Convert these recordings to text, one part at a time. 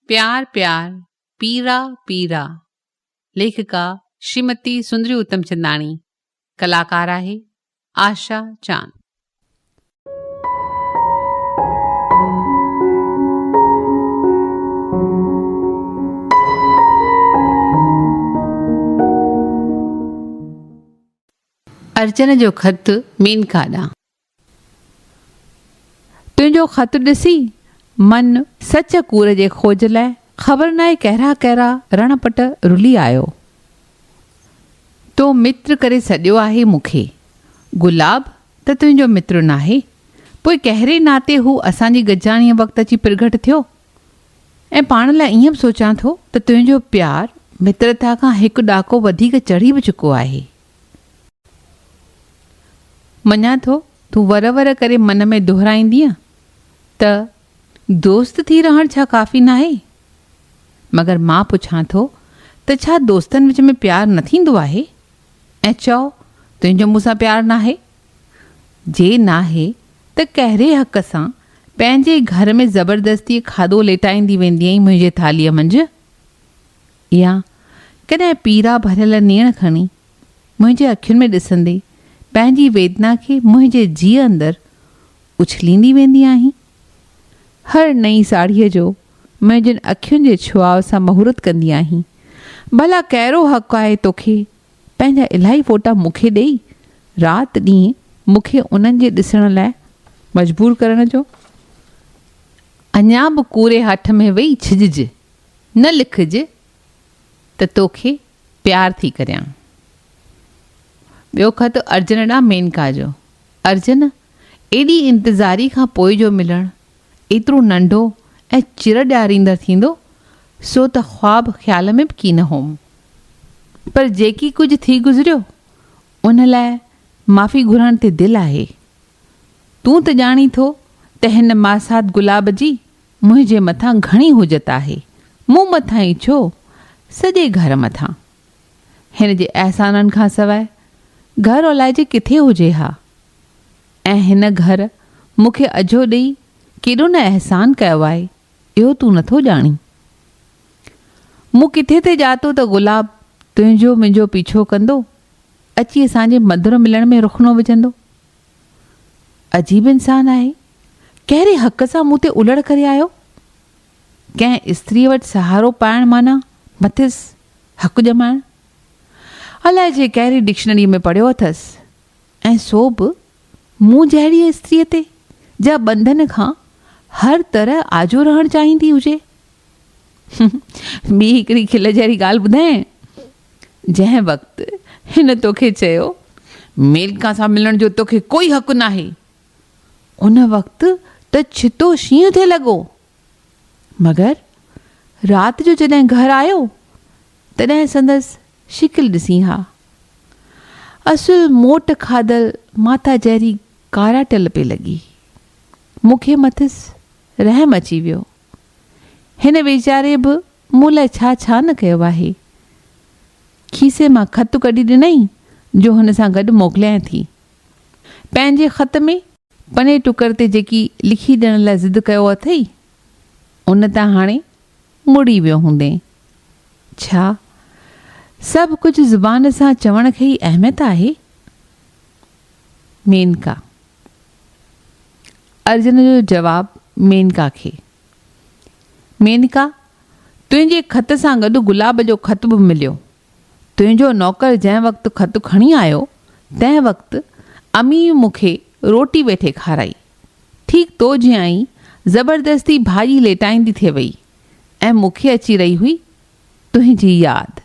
پيار پيار پيرا پيرا ليکڪا شريمتي سندري اتمچنداڻي ڪلاڪار آهي آشا چاند. ارجن جو خط مينڪا ڏانهن. تنهنجو خط ڏسي من سچ ڪوڙ جي کوج لاء خبر ناهي ڪهڙا ڪهڙا رڻ پٽ رلي آيو. تو متر ڪري سڏيو آهي مون کي. گلاب ته تنهنجو متر ناهي. پوء ڪهڙي ناتي هو اسان جي گڏجاڻيء وقت اچي پرگهٽ ٿيو؟ ۽ پاڻ لاء ائين به سوچان ٿو ته تنهنجو پيار مترتا کان هڪ ڏاڪو وڌيڪ چڙهي به چڪو آهي. مڃان ٿو تون ور ور ڪري من ۾ دهرائيندينء ته دوست ٿي رهڻ ڇا ڪافي ناهي؟ مگر مان پڇان ٿو ته ڇا دوستن وچ ۾ پيار نه ٿيندو آهي؟ ۽ چئو تنهنجو مون سان پيار ناهي؟ جي ناهي ته ڪهڙي حق سان پنهنجي گهر ۾ زبردستيء کاڌو ليٽائيندي ويندينء منهنجي ٿالهيء منجهه؟ يا ڪڏهن پيرا ڀريل نيڻ کڻي منهنجي اکين ۾ ڏسندي پنهنجي ويدنا کي منهنجي جيء اندر اڇليندي ويندي آهين؟ هر نئين ساڙهيء جو منهنجين اکين جي ڇهاء سان مهورت ڪندي آهين؟ ڀلا ڪهڙو حق آهي توکي پنهنجا الاهي فوٽا مون کي ڏيئي رات ڏينهن مون کي انهن جي ڏسڻ لاء مجبور ڪرڻ جو؟ اڃا به ڪوري هٺ ۾ ويهي ڇڄج. نه لکج ته توکي پيار ٿي ڪريان. ٻيو خط ارجن ڏانهن مينڪا جو. ارجن! ايڏي انتظاري کان پوء جو ملڻ ايترو ننڍو ۽ چر ڏياريندڙ ٿيندو سو ته خواب خيال ۾ به ڪي نه هوم. پر جيڪي ڪجهه ٿي گذريو ان لاء معافي گهرڻ تي دل آهي. تون ته ڄاڻين ٿو ته هن ماسات گلاب جي منهنجي مٿان گهڻي حجت آهي. مون مٿان ئي ڇو، سڄي گهر مٿان. هن جي احسانن کان سواء گهر الائجي ڪٿي هجي ها؟ ۽ هن گهر مون کي اجهو ڏئي ڪيڏو نه احسان ڪيو آهي، اهو تون نٿو ڄاڻين. مون ڪٿي ٿي ڄاتو ته گلاب تنهنجو منهنجو پيڇو ڪندو، اچي اسان جي مڌر ملڻ ۾ رخنو وجهندو. عجيب انسان آهي. ڪهڙي حق سان مون تي الڙ ڪري آيو؟ ڪنهن استريء وٽ سهارو پائڻ معنيٰ مٿس حق ڄمائڻ. الائي جي ڪهڙي ڊڪشنريء ۾ پڙهيو اٿس ۽ سو به مون جهڙيء استريء تي جا ٻنڌن کان هر طرح آجو رهڻ چاهيندي هجي. ٻي هڪڙي کل جهڙي ڳالهه ٻڌانء. جنهن وقت هن توکي چيو، ميلڪا سان ملڻ جو توکي ڪوئي حق ناهي، ان وقت ته ڇتو شينهن ٿي لڳو. مگر رات جو جڏهن گهر آيو، تڏهن سندس شڪل ڏسين ها. اصل موٽ کاڌل ماتا جهڙي ڪاراٽل پئي لڳي. مون کي مٿس رحم اچي ويو. هن ويچاري به مون لاء ڇا ڇا نه ڪيو آهي. کيسي مان خط ڪڍي ڏنائين جو هن سان گڏ موڪليانء ٿي. پنهنجي خط ۾ پني ٽڪر تي جيڪي لکي ڏيڻ لاء ضد ڪيو اٿئي، ان تان هاڻي مڙي ويو هوندين. ڇا سڀ ڪجهه زبان سان چوڻ کي ئي اهميت آهي؟ مينڪا. ارجن جو جواب مينڪا کي. مينڪا، تنهنجي خط سان گڏ گلاب جو خط به مليو. تنهنجو نوڪر جنهن وقت خط کڻي آيو، تنهن وقت اميء مون کي روٽي ويٺي کارائي. ٺيڪ تو جيان ئي زبردستي ڀاڄي ليٽائيندي ٿي وئي ۽ مون کي اچي رهي هئي تنهنجي ياد.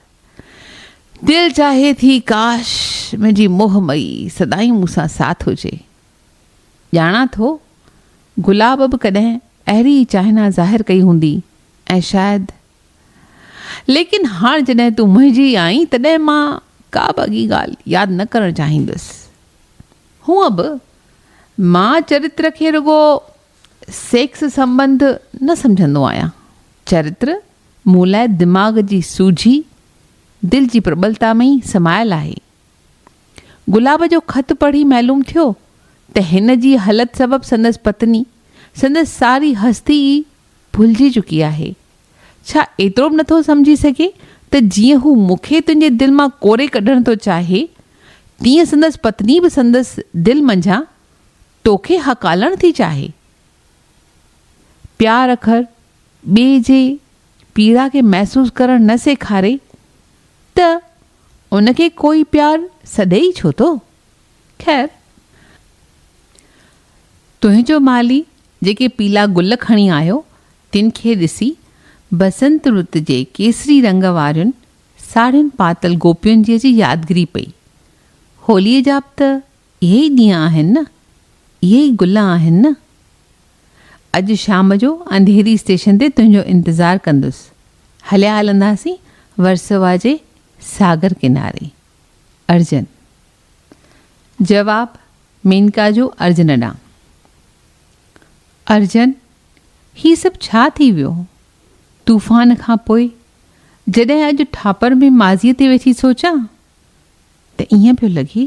دل چاهي ٿي ڪاش! منهنجي موهه مئي سدائين مون سان ساٿ هجي. ڄاڻان ٿو گلاب به ڪڏهن اهڙي ئي چاهنا ظاهر ڪئي هوندي ۽ شايد ليڪن هاڻ جڏهن تون منهنجي آهين تڏهن مان ڪا به اڳي ڳالهه ياد نه ڪرڻ چاهيندس. هونء به مان چرتر کي رڳو سيڪس سنٻنڌ نه سمجهندو آهيان. چرتر مون لاء دماغ جي سوجهي، دل جي پرٻلتا ۾ ئي سمايل آهي. گلاب جو خط پڙهي معلوم ٿيو ته هن جي هلت سبب سندس پتني سندس ساري هستي ئي ڀلجي چڪي آهي. ڇا ايترو به نٿو سمجهي سگهي ته جيئن هو مون کي تنهنجي دل مان ڪوري ڪڍڻ ٿو چاهي، تيئن سندس پتني به سندس دل منجهان تو کي هڪالڻ ٿي چاهي. پيار اکر ٻئي جي پيڙا کي محسوس ڪرڻ نه سيکاري ته ان کي ڪوئي پيار سڏي ئي ڇو ٿو؟ خير، تنهنجو مالهي جيڪي پيلا گل کڻي آيو، تن کي ڏسي، بسنت رت جي ڪيسري رنگ وارين ساڙهين پاتل گوپين جي جي يادگري پئي. هوليء جا به ته اهي ئي ڏينهن آهن نه، اهي ئي گل آهن نه. اڄ شام جو انڌيري اسٽيشن تي تنهنجو انتظار ڪندس. هليا هلنداسين ورسووا جي ساگر ڪناري. ارجن. جواب، مينڪا جو ارجن ڏانهن. ارجن، هي سڀ ڇا ٿي ويو؟ طوفان کان پوء جڏهن اڄ ٺاپر ۾ ماضيء تي ويٺي سوچان ته ائين پيو لڳي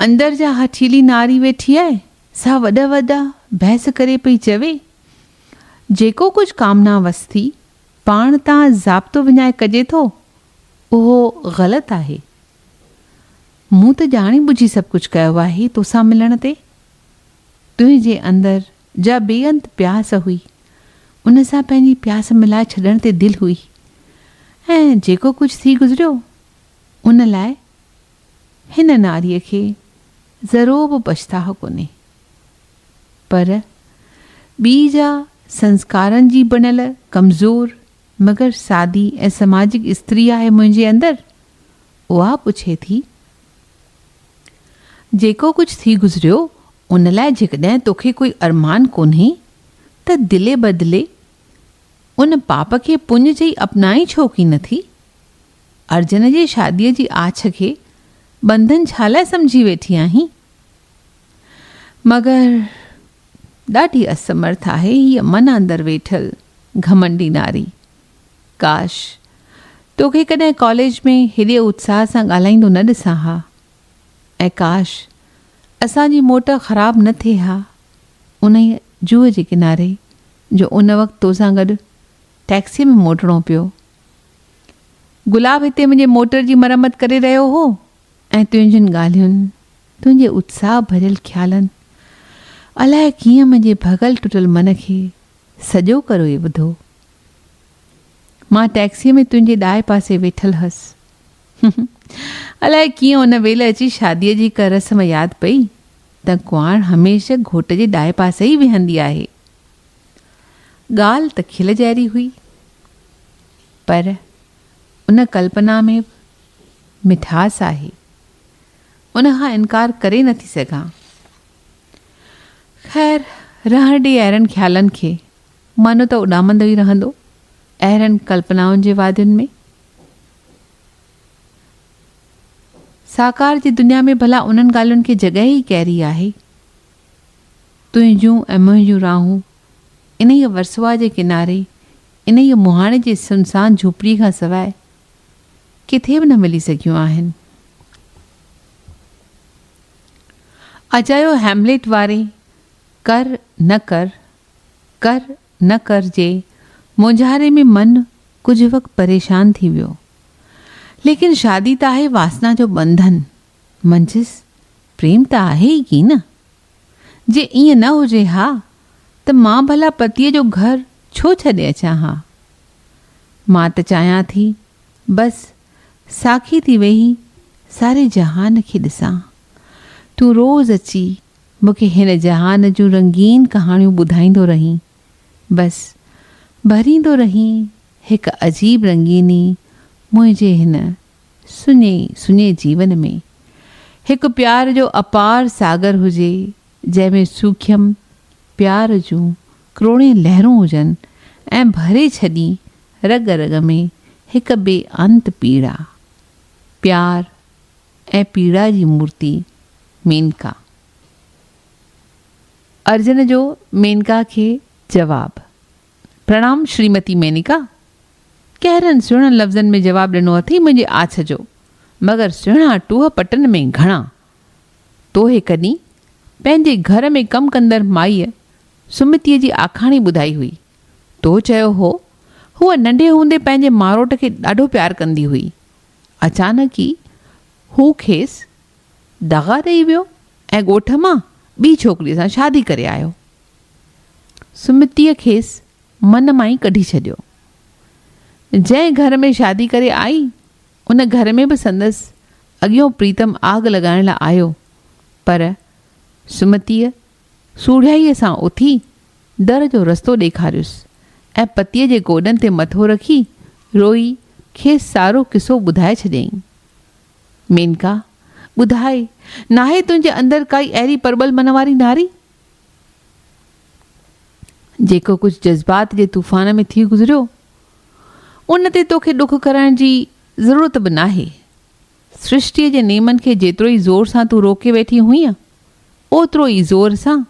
اندر جا هٺيلي ناري ويٺي آهي، سا وڏا وڏا بحث ڪري پئي چوي، جيڪو ڪجهه ڪامنا وستي پاڻ تان ضابطو وڃائي ڪجي ٿو، اهو غلط آهي. مون ته ڄاڻي ٻجهي سڀ ڪجهه ڪيو آهي توسان ملڻ تي. تنهنجي اندر جا بي انت پياس هئي، ان سان پنهنجي پياس ملائي ڇڏڻ تي دل هئي ۽ جيڪو ڪجهه ٿي گذريو، ان لاء هن نعري کي ذرو به پڇتاهه ڪونهي، پر ٻي جا سنسڪارن جي بڻيل ڪمزور مگر سادي ۽ سماجڪ استري آهي منهنجي اندر، اها پڇي ٿي، جيڪو ڪجهه ٿي گذريو ان لاء جيڪڏهن توکي ڪوئي ارمان ڪونهي ته دلي بدلي ان پاپ کي پڃ چئي اپنائين ڇو ڪين ٿي؟ ارجن جي شاديء جي آڇ کي ٻنڌن ڇا لاء سمجهي ويٺي آهين؟ مگر ڏاڍي اسمرٿ آهي هيء من اندر ويٺل گهمنڊي ناري. ڪاش! توکي ڪڏهن ڪاليج ۾ هيڏي اتساهه سان ڳالهائيندو نه ڏسان ها. ۽ ڪاش! اسان جي موٽ خراب نه ٿئي ها انهيء جوء جي ڪناري جو ان وقت توسان گڏ ٽئڪسيء ۾ موٽڻو پيو. گلاب هتي منهنجي موٽر جي مرمت ڪري رهيو هو ۽ تنهنجين ڳالهين، تنهنجي اتساهه ڀريل خيالن الائي ڪيئن منهنجي ڀڳل ٽٽل من کي سڄو ڪروئي وڌو. مان ٽئڪسيء ۾ تنهنجي ڏائي پاسي ويٺل هئس. الائي ڪيئن ان ويل اچي شاديء جي هڪ رسم ياد پئي ته ڪنواڻ هميشه گهوٽ جي ڏائي پاسي ئي ويهندي آهي. ڳالهه ته کل جهڙي هئي، پر ان ڪلپنا ۾ به مٺاس آهي، ان کان انڪار ڪري نٿي سگهان. خير، رهڻ ڏي اهڙن خيالن کي، معنو ته اڏامندو ئي رهندو، اهڙن ڪلپنائن جي وادين ۾. ساڪار جي دنيا ۾ ڀلا انهن ڳالهين کي جڳهه ئي ڪهڙي آهي؟ تنهنجون ۽ منهنجون راهون انهيء ورسوئا جي ڪناري، انهيء مهاڻي جي سنسان جهوپڙيء کان سواء ڪٿي به نه ملي سگهيون آهن. اجايو هيمليٽ واري ڪر نه ڪر، ڪر نه ڪر جي مونجهاري ۾ من ڪجهه وقت پريشان ٿي ويو. ليڪن شادي تاهي واسنا جو ٻنڌن. منجهس پريم ته آهي ئي ڪين. جي ائين نه هجي ها ته مان ڀلا پتيء جو گهر ڇو ڇڏي اچان ها. مان ته چاهيان ٿي بس ساکي ٿي ويهي ساري جهان کي ڏسان. تون روز اچي مون کي هن جهان جون رنگين ڪهاڻيون ٻڌائيندو رهين. بس ڀريندو رهين هڪ عجيب رنگيني منهنجي هن سڃي سڃي جيون ۾ هڪ پيار جو اپار ساگر هجي، جنهن ۾ سوکيم پيار جون ڪروڙين لهرون هجن ۽ ڀري ڇڏي رڳ رڳ ۾ هڪ بي انت پيڙا. پيار ۽ پيڙا جي مورتي مينڪا. ارجن جو مينڪا کي جواب. پرڻام شريمتي مينڪا! ڪهڙن سهڻن لفظن ۾ جواب ڏنو اٿئي منهنجي آڇ جو، مگر سهڻا ٽوهه پٽن ۾ گهڻا. توهي ڪڏهن پنهنجي گهر ۾ ڪم ڪندڙ مائيء سمتيء جي آکاڻي ٻڌائي هئي. تو چيو هو، هوء ننڍي هوندي پنهنجي ماروٽ کي ڏاڍو پيار ڪندي هئي. اچانڪ ئي هو کيس دغا ڏيئي ويو ۽ ڳوٺ مان ٻي ڇوڪريء سان شادي ڪري آيو. سمتيء کيس من مان ئي ڪڍي ڇڏيو. جنهن گهر ۾ شادي ڪري آئي، ان گهر ۾ به سندس اڳيون پريتم آگ لڳائڻ لاء آيو، پر سمتيء سوڙهيائيء سان اٿي در جو رستو ڏيکاريس ۽ پتيء جي گوڏن تي مٿو رکي روئي کيس سارو قصو ٻڌائي ڇڏيائين. مينڪا! ٻڌاء، ناهي تنهنجي اندر ڪائي اهڙي پرٻل من واري ناري، جيڪو ڪجهه جذبات جي طوفان ۾ ٿي گذريو، ان تي توکي ڏک ڪرڻ جي ضرورت به ناهي. سرشٽيء جي نيمن کي جيترو ئي زور سان تون روڪي ويٺي هئينء، اوترو ئي زور سان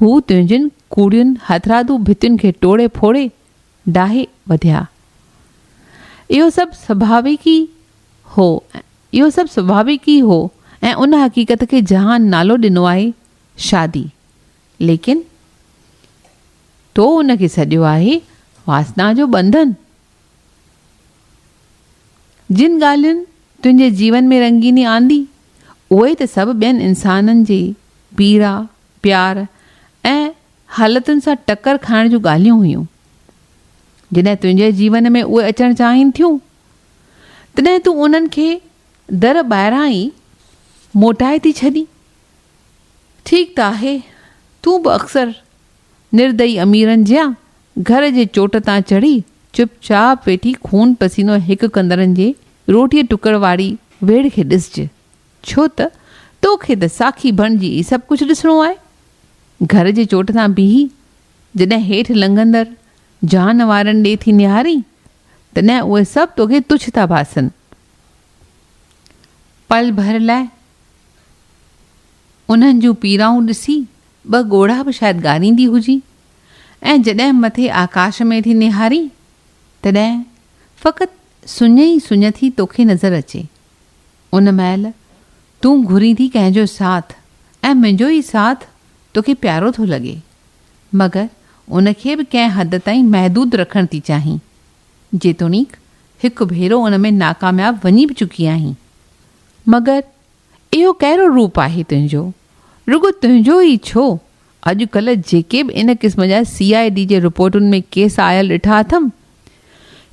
هو تنهنجين ڪوڙين هٿرادو ڀتين کي ٽوڙي ڦوڙي ڊاهي وڌيا. اهو سڀ سڀاويڪ ئي هو اهو سڀ سڀاويڪ ئي هو ۽ ان حقيقت کي جهان نالو ڏنو آهي شادي، ليڪن تو ان کي سڏيو آهي واسنا جو ٻنڌن. جن ڳالهين تنهنجي جيون ۾ رنگيني آندي، اهي ته سڀ ٻين انسانن جي پيڙا، پيار ۽ حالتن سان ٽڪر کائڻ جون ڳالهيون هيون. جڏهن تنهنجي جيون ۾ اهي اچڻ چاهين ٿيون، تڏهن تون انهن کي در ٻاهران ئي موٽائي ٿي ڇڏين. ٺيڪ ته آهي، تون به اڪثر نردئي اميرن جيان گهر جي چوٽ تان چڙهي چپ چاپ ويٺي خون پسينو هڪ ڪندڙن جي روٽيء ٽڪڙ واري ويڙهه کي ڏسج، ڇو ته تو کي ته ساکي بڻجي ئي سڀ ڪجهه ڏسڻو آهي. گهر جي چوٽ تان بيهي جڏهن هيٺ لنگهندڙ جان وارن ڏي ٿي نهارين، تڏهن اهي سڀ توکي تڇ ٿا ڀاسن، پل ڀر لاء انهن جون پيرائون ڏسي ٻه ڳوڙها به شايد ڳاريندي هجي ۽ جڏهن مٿي آڪاش ۾ ٿي نهاري تڏهن فقط سڃ ئي سڃ ٿي توکي نظر اچي ان مهل تون گهرين ٿي ڪنهن جو ساٿ ۽ منهنجو ئي ساٿ توکي پيارو ٿو لڳي مگر ان کي به ڪنهن حد تائين محدود رکڻ ٿي چاهين جيتوڻيڪ هڪ ڀيرو ان ۾ ناڪامياب وڃي به چڪي آهين. مگر اهو ڪهڙو روپ آهي تنهنجو؟ رڳو تنهنجو ئي ڇو، اڄ ڪلهه جيڪي به ان قسم جا سي آء ڊي جي رپورٽن ۾ ڪيس آيل ڏٺا اٿم،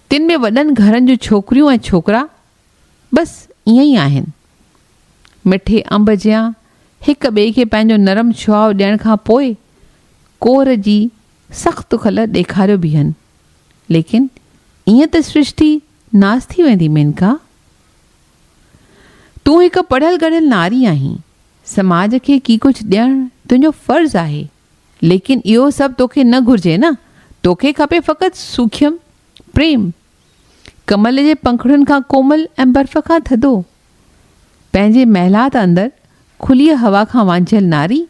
تن ۾ وڏن گهرن جون ڇوڪريون ۽ ڇوڪرا بس ائين ئي آهن. مٺي انب جيان هڪ ٻئي کي پنهنجو نرم شهاء ڏيڻ کان پوء ڪوهر جي سخت کل ڏيکاريو بيهن. ليڪن ائين ته سرشتي ناس ٿي ويندي مينڪا. تون هڪ پڙهيل ڳڙهيل ناري آهين، سماج کي ڪي ڪجهه ڏيڻ تنهنجو فرض آهي، ليڪن اهو سڀ توکي نه گهرجي نه، توکي کپي فقط سوکيم، پريم. ڪمل جي پنکڙين کان ڪومل ۽ برف کان ٿڌو. پنهنجي محلات اندر کليء هوا کان وانجهيل ناري،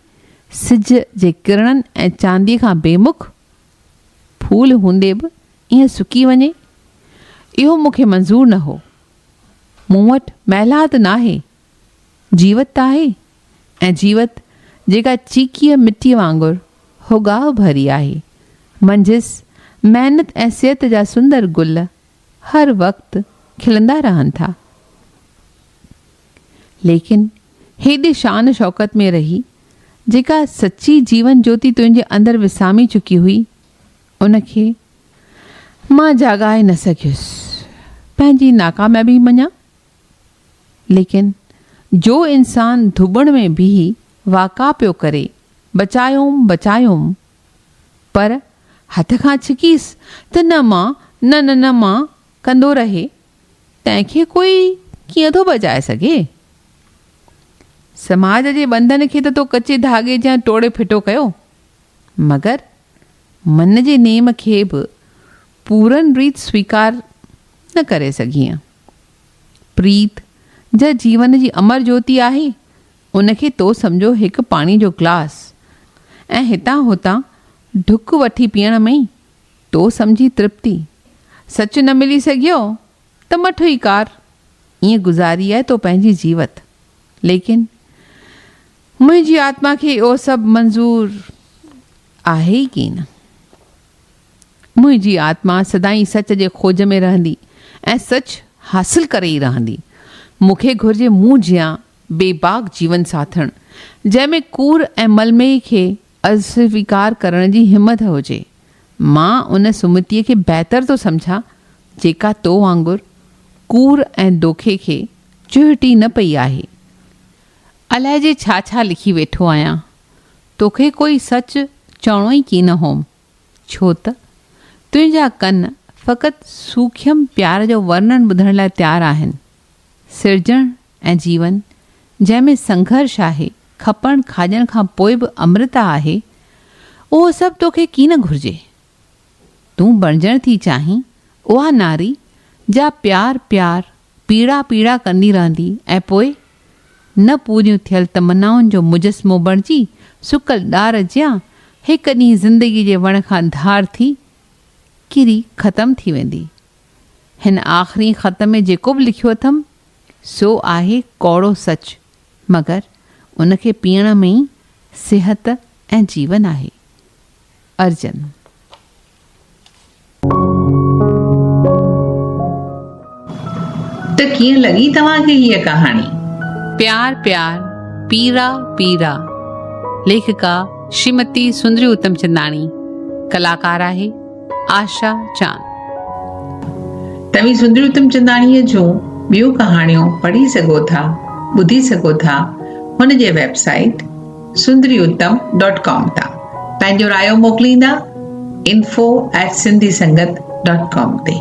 سج جي ڪرڻن ۽ چانديء کان بي مک، ڦول هوندي به ائين سڪي وڃي؟ اهو مون کي منظور نه هو. مون وٽ محلات ناهي، جيوت ته آهي ۽ جيوت جيڪا چيڪيء مٽيء وانگر هوڳاهه ڀري آهي، منجهس محنت ۽ صحت جا سندر گل هر وقت کلندا رهن ٿا. ليڪن هيڏي شان شوڪت ۾ رهي جيڪا سچي جيون جوتي تنهنجي اندر وسامي چڪي هئي ان کي مان جاڳائي نه سگهيس پنهنجي ناڪاميابي مڃان ليڪن جو انسان ڌٻڻ ۾ بيهي واڪا پيو ڪري بچايوم بچايوم پر هٿ کان ڇڪيس ته نه مان نه نه نه مان ڪندو رهي، تنهن کي ڪوئي ڪيئن ٿو بچائي سگهي؟ سماج جي ٻنڌن کي ته تو ڪچي ڌاڳي جيان ٽوڙي ڦٽو ڪيو، مگر من جي نيم کي به پورن ريت سويڪار نه ڪري سگهيئين. پريت جا جيون جي امر جوتي آهي، ان کي تو سمجهو هڪ پاڻي جو گلاس ۽ هتان هتان ڍڪ وٺي پيئڻ ۾ ئي تو سمجهي ترپتي سچ نه ملي سگهيو ته مٺ ئي ڪار. ائين گذاري آهي تو پنهنجي جيوت. ليڪن منهنجي آتما کي اهو سڀ منظور آهي ئي ڪين. منهنجي آتما سدائين سچ جي کوج ۾ رهندي ۽ سچ حاصل ڪري ئي رهندي. مون کي گهرجي مون جيان بي باڪ جيون ساٿڻ جنهن ۾ ڪوڙ ۽ ملميء کي اسويڪار ڪرڻ جي همٿ هجي. مان ان سمتيء کي بهتر ٿو سمجهان جيڪا تو وانگر ڪوڙ ۽ دوکي کي چهٽي نه پئي آهي. عليجي ڇا ڇا لکي ويٺو آهيان. توکي ڪوئي سچ چوڻو ئي ڪين هوم. ڇو ته تنهنجا ڪن فقط سوکيم پيار جو ورنن ٻڌڻ لاء تيار آهن. سرجڻ ۽ جيون، جنهن ۾ سنگهرش آهي، کپڻ کاڄڻ کان پوء به امرتا آهي، اهو سڀ توکي ڪين گهرجي. تون بڻجڻ ٿي چاهين، اها ناري، جا پيار پيار، پيڙا پيڙا ڪندي رهندي ۽ پوء، نه پوريون ٿيل تمنائن جو مجسمو بڻجي، سڪل ڏار جيان، هڪ ڏينهن زندگيء جي وڻ کان ڌار ٿي، ڪري ختم ٿي ويندي. هن آخرين خط ۾ جيڪو به لکيو اٿم، سو آهي ڪوڙو سچ، مگر ان کي پيئڻ ۾ ئي صحت ۽ جيون آهي. ارجن. ته ڪيئن لڳي توهان کي هيء ڪهاڻي؟ پيار پيار پيرا پيرا ليکڪا شريمتي سندري اتمچنداڻي ڪلاڪار آهي. آشا چاند. توهين سندري اتمچنداڻيء جون ٻيون ڪهاڻيون پڙهي سگهو ٿا، ٻڌي سگهو ٿا هن جي website Sundari Uttam dot com تان. پنهنجو رايو موڪليندا info at Sindhi Sangat dot com تي.